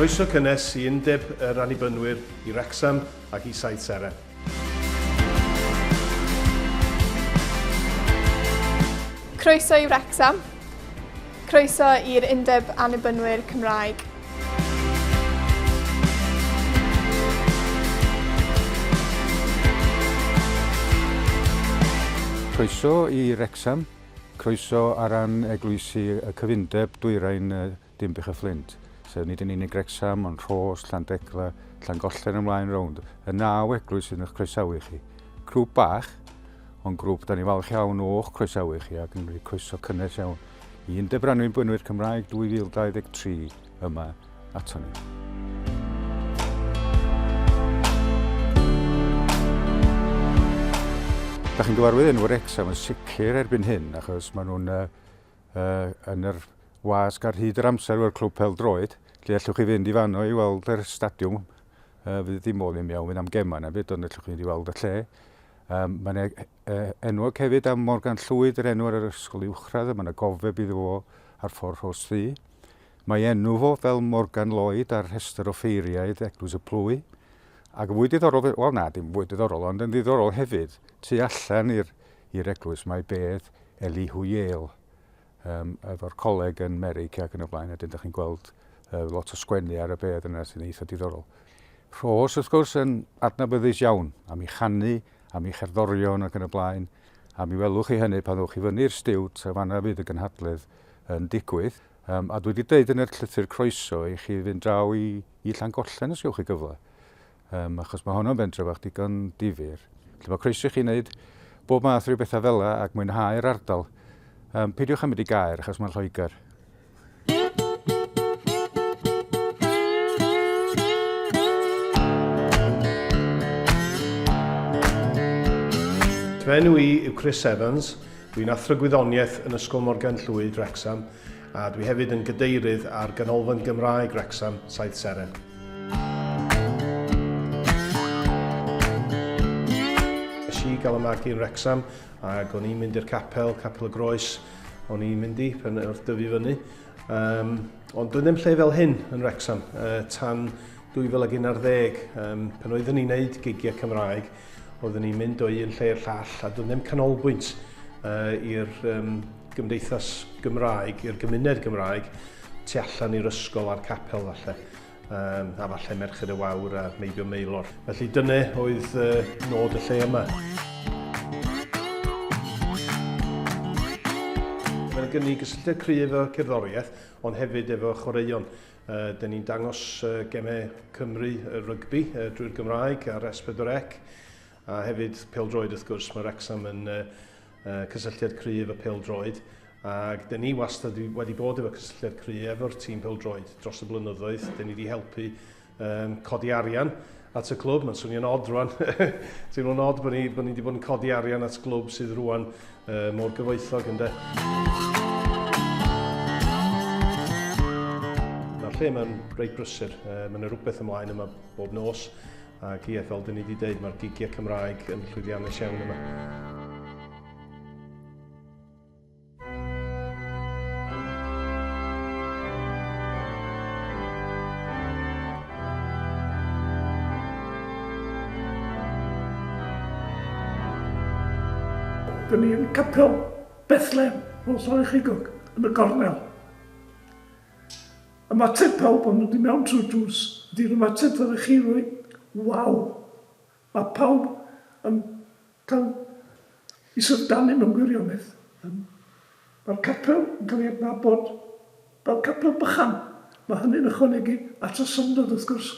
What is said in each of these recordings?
Croeso cynnes i Undeb yr Annibynwyr i Wrecsam ac i Saith Seren. Croeso i Wrecsam. Croeso i'r Undeb Annibynwyr Cymraeg. Croeso i Wrecsam, croeso ar ran eglwysi y cyfundeb dwyrain Dinbych a Fflint, sef nid yn unig Wrecsam ond Rhos, Llandegla, Llangollen ymlaen rownd, y naw eglwys sydd yn croesawu chi. Grŵp bach, ond grŵp da ni'n falch iawn o'ch croesawu chi ac yn rhoi croeso cynnes iawn. i'n dybranwy'n bwynwyr Cymraeg 2023 yma ato ni. Da chi'n gyfarwydd yn Wrecsam yn sicr erbyn hyn, achos maen nhw'n uh, uh, yn yr wasg ar hyd yr amser o'r clwb pel droed, lle allwch chi fynd i fanno i weld yr stadiwm, uh, fydd ddim modd i mi iawn fynd am gemau na byd, ond allwch chi fynd i weld y lle. Um, Mae'n e- Yy, enwog hefyd am Morgan Llwyd, yr enw ar yr ysgol uwchradd, a mae yna gofeb iddo fo ar ffordd Rhos Ddu. Mae enw fo fel Morgan Lloyd ar rhestr o ffeiriaid Eglwys y Plwy. Ac yn fwy diddorol, fe- wel na, dim fwy diddorol, ond yn ddiddorol hefyd, tu allan i'r i'r eglwys mae bedd Elihu Yale, um, efo'r coleg yn Merig ac yn y blaen, a dyn da chi'n gweld uh, lot o sgwennu ar y bedd yna sy'n eitha diddorol. Rhos, wrth gwrs, yn adnabyddus iawn am ei chanu, am ei cherddorion ac yn y blaen, a mi welwch chi hynny pan ddewch i fyny'r stiwt, a fanna fydd y gynhadledd yn digwydd. Um, a dwi wedi dweud yn yr llythyr croeso i chi fynd draw i, i Llangollen os ywch chi gyfle. um, achos mae honno'n bentre fach digon difyr. Felly mae croeso i chi wneud bob math rhyw bethau fel yna ac mwynhau'r ardal. Um, peidiwch am mynd i gair achos mae'n Lloegr. Fy enw i yw Chris Evans, dwi'n athro gwyddoniaeth yn Ysgol Morgan Llwyd, Wrexham, a dwi hefyd yn gadeirydd ar Ganolfan Gymraeg Wrecsam, Saith Seren. i gael y magu yn Rexham ac o'n i'n mynd i'r capel, capel y groes, o'n i'n mynd i pen wrth dyfu fyny. Um, ond doedd ddim lle fel hyn yn Rexham uh, tan 2011 um, pan oeddwn ni'n neud gigiau Cymraeg Oeddwn ni'n mynd o un lle i'r llall a doedd ddim canolbwynt uh, i'r um, gymdeithas Gymraeg, i'r gymuned Gymraeg, tu allan i'r ysgol a'r capel falle, um, a falle Merched y Wawr a Meibio Meilor. Felly dyna oedd uh, nod y lle yma. Mae'n gynnig gysylltiad cryf efo cerddoriaeth, ond hefyd efo chwaraeon. Dyn ni'n dangos gemau Cymru rygbi drwy'r Gymraeg ar S4C a hefyd pêl-droed wrth gwrs. Mae Wrecsam yn cysylltiad cryf y pêl-droed ac dyn ni wastad wedi bod efo cysylltiad cry efo'r tîm pêl-droed dros y blynyddoedd. Dyn ni wedi helpu codi arian at y clwb. Mae'n swnio'n od rwan. Teimlo'n od bod ni, bod ni wedi bod yn codi arian at glwb sydd rwan uh, mor gyfoethog ynddo. Mae'r lle mae'n reit brysur. Uh, mae yna rhywbeth ymlaen yma bob nos. Ac ie, fel dyn ni wedi dweud, mae'r gigiau Cymraeg yn llwyddiannus iawn yma. Dyn ni yn Capel Bethlehem, fel sori chi gog, yn y gornel. Ymateb pawb o'n nhw di mewn trwy'r drws, ydy'r ymateb ddylech chi roi, waw! Mae pawb yn Taw i Syrdane mewn gwirionedd. Yym. Mae'r capel yn cael ei adnabod fel capel bychan. Mae hynny'n ychwanegu at y syndod, wrth gwrs.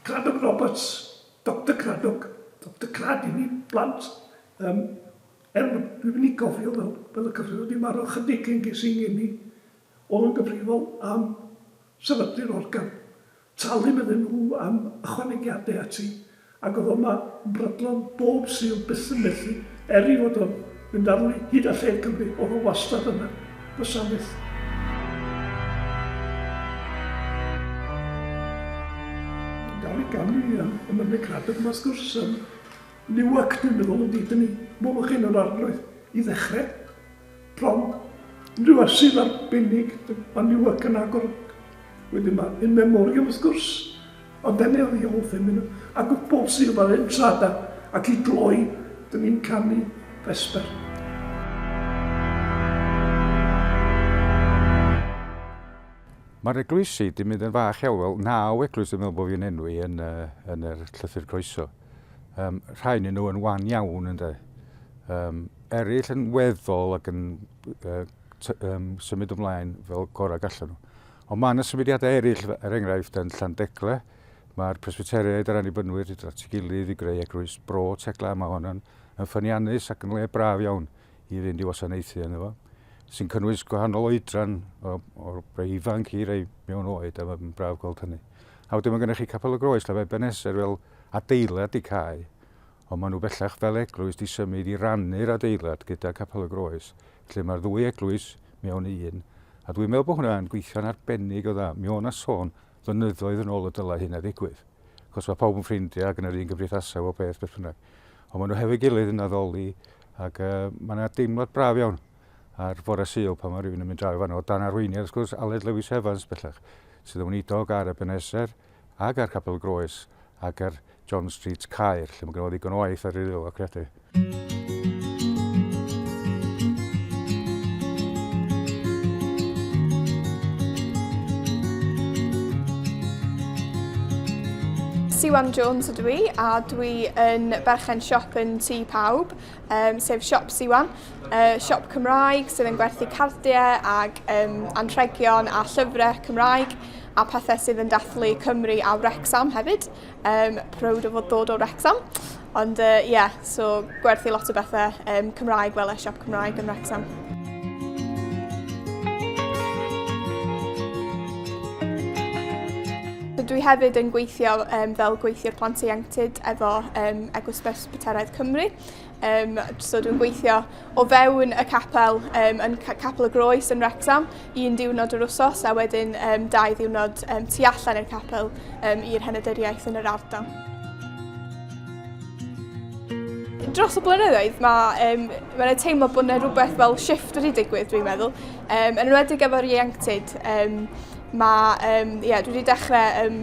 Cradock Roberts, Doctor Cradock, Doctor Crad i ni blant. Yym. Er bod, dwi'n mynd i gofio fel, fel y cyfryw wedi marw ychydig cyn ges i'n ngeni, o'dd o'n gyfrifol am sefydlu'r organ. Talu'n iddyn nhw am ychwanegiadau ati, ac oedd o 'ma yn brydlon bob Sul byth yn methu, er i fod o'n mynd ar wy hyd a lled Cymru, oedd o wastad yna, bysa fyth. Yn dal i ganu am y Mynydd Cradog 'ma wrth gwrs, yn Newark dwi'n meddwl ydi, dyn ni, welwch chi yn yr arglwydd i ddechrau. Prom, unrhyw arsyll arbennig, mae Newark yn agor. Wedyn mae In Memoriam wrth gwrs, ond dan ni ar The Old Feminine, a Good Bolt Seal fel entrada, ac i gloi, dan ni'n canu Vesper. Mae'r eglwysi 'di mynd yn fach iawn, wel naw eglwys dwi'n meddwl bod fi'n enwi yn yr llythyr croeso. Um, rhai yn nhw yn wan iawn ynddo. Um, eraill yn weddol ac yn uh, um, symud ymlaen fel gorau gallan nhw. Ond mae yna symudiadau eraill, er enghraifft, yn Llandegle. Mae'r presbyteriaid a'r annibynnwyr wedi dod at ei gilydd i greu eglwys bro tegla. Mae hon yn, yn ffyniannus ac yn le braf iawn i fynd i wasanaethu ynddo fo sy'n cynnwys gwahanol oedran o, o rei ifanc i rei mewn oed a mae'n braf gweld hynny. A wedyn mae gennych chi Capel y Groes, lle mae Beneser fel adeilad y cae, ond maen nhw bellach fel eglwys 'di symud i rannu'r adeilad gyda Capel y Groes, lle mae'r ddwy eglwys mewn un, a dwi'n meddwl bod hwnna yn gweithio'n arbennig o dda. Mi o' 'na sôn flynyddoedd yn ôl y dylai hynna ddigwydd, achos mae pawb yn ffrindiau ac yn yr un gymdeithasau, bob peth, beth bynnag. Ond maen nhw hefo'i gilydd yn addoli, ac uh, mae yna deimlad braf iawn ar fore Sul pan mae rhywun yn mynd draw i fanno, o dan arweiniad, wrth gwrs, Aled Lewis Evans bellach, sydd yn wneud dog ar y beneser, Ac ar Capel Groes ac ar John Street Caer, lle mae gen o ddigon o waith ar ei ŵyl o credu. Siwan Jones ydw i a dwi yn berchen siop yn Tŷ Pawb. um, sef Siop Siwan, uh, siop Cymraeg sydd yn gwerthu cardiau ac um, anrhegion a llyfrau Cymraeg a pethau sydd yn dathlu Cymru a Wrexham hefyd. Um, proud o fod dod o Wrexham. Ond ie, uh, yeah, so gwerthu lot o bethau um, Cymraeg fel y siop Cymraeg yn Wrexham. Dwi hefyd yn gweithio um, fel gweithiwr plant ieuenctid efo um, Eglwys Beth Bwteraidd Cymru. Um, so dwi'n gweithio o fewn y capel um, yn Capel y Groes yn Wrexham un diwrnod yr wsos a wedyn um, dau ddiwrnod um, tu allan i'r capel um, i'r henedyddiaeth yn yr ardal. Dros y blynyddoedd mae um, ma yna teimlo bod yna rhywbeth fel shift wedi digwydd dwi'n meddwl. Um, yn enwedig efo'r ieuenctid, um, mae, um, yeah, dwi wedi dechrau um,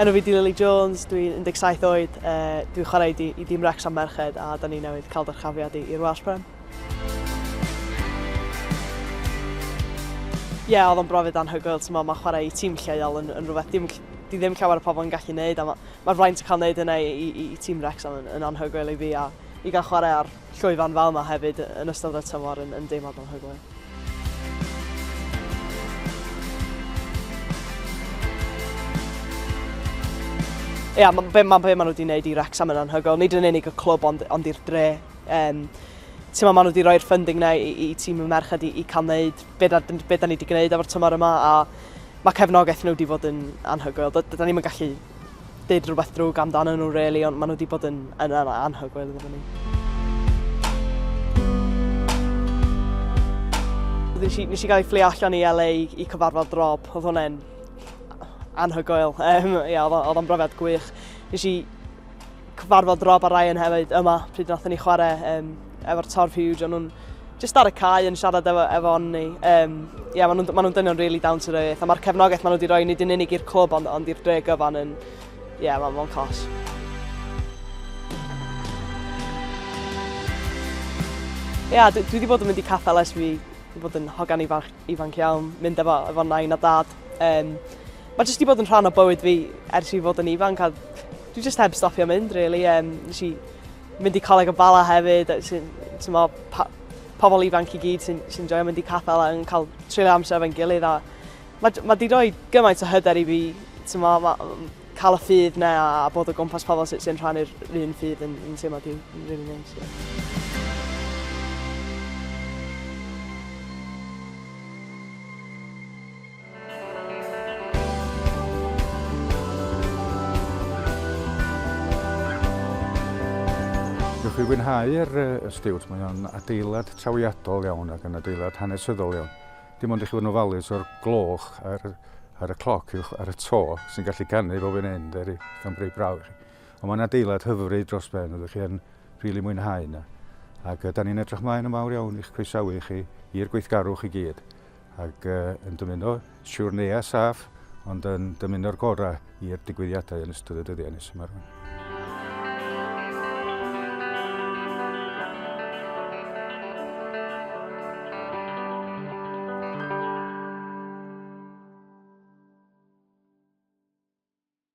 Enw fi 'di Lily Jones, dwi'n 17 oed, dwi'n chwarae i i dîm Wrecsam merched a da ni newydd cael dyrchafiad i i'r Welsh Prem. Ie, yeah, oedd o'n brofiad anhygoel, ti'n ma chwarae i tîm lleol yn, yn rhywbeth dim, di ddim llawer o pobl yn gallu neud, a mae'r ma fraint o cael neud hynna i, i, i tîm Wrecsam yn, yn anhygoel i fi, a i gael chwarae ar llwyfan fel yma hefyd yn ystod y tymor yn yn deimlad anhygoel. Ie, yeah, be, ma, be maen nhw wedi gwneud i Wrexham yn anhygoel, nid yn unig y clwb ond, ond i'r dre. Um, Ti'n maen nhw wedi rhoi'r ffunding na i, i tîm y merched i, i cael gwneud be da, be da ni wedi gwneud efo'r tymor yma a mae cefnogaeth nhw wedi bod yn anhygoel. Da, da ni'n gallu deud rhywbeth drwg amdanyn nhw really, ond maen nhw wedi bod yn, yn, yn anhygoel iddyn ni. Nes i, nes i gael ei fflio allan i LA i, i cyfarfod Rob, oedd hwnna'n anhygoel. Um, ia, oedd o'n brofiad gwych. Nes i cyfarfod Rob a Ryan hefyd yma pryd nath ni chwarae um, efo'r Torf Huge, o'n nhw'n jyst ar y cae yn siarad efo, efo ni. Um, yeah, maen nhw'n ma nhw dynion really down to earth, a mae'r cefnogaeth maen nhw wedi rhoi nid yn unig i'r clwb ond, ond i'r dre gyfan yn... Ie, yeah, mae'n ma cos. Ie, yeah, dwi wedi bod yn mynd i caffel ers fi wedi bod yn hogan ifanc, ifanc iawn, mynd efo, efo nain a dad. Um, mae jyst wedi bod yn rhan o bywyd fi ers i fod yn ifanc a dwi jyst heb stopio mynd, really. Um, nes i Mynd i Coleg y Bala hefyd, uh, sy'n, mo, pa, pobl ifanc i gyd sy'n sy joio mynd i capel a yn cael treulio amser efo'n gilydd. A mae, mae di roi gymaint o hyder i fi, ti'n mo, ma, cael y ffydd na a, a bod o gwmpas pobl sy'n sy rhannu'r un ffydd yn, yn teimlo di'n rili really neis. Yeah. Newch chi fwynhau'r ysdiwt, mae o'n adeilad trawiadol iawn ac yn adeilad hanesyddol iawn. Dim ond i chi fod yn ofalus o'r gloch ar, ar y cloc uwch ar y to sy'n gallu canu fel fi'n hyn, dyri, sy'n breu braw i chi. Ond mae'n adeilad hyfryd dros ben, ydych chi yn rili really mwynhau yna. Ac da ni'n edrych mlaen yn fawr iawn i'ch croesawu chi i'r gweithgarwch i gyd. ac yn dymuno siwrneia saff ond yn dymuno'r gorau i'r digwyddiadau yn ystod y dyddiau nes yma rwan.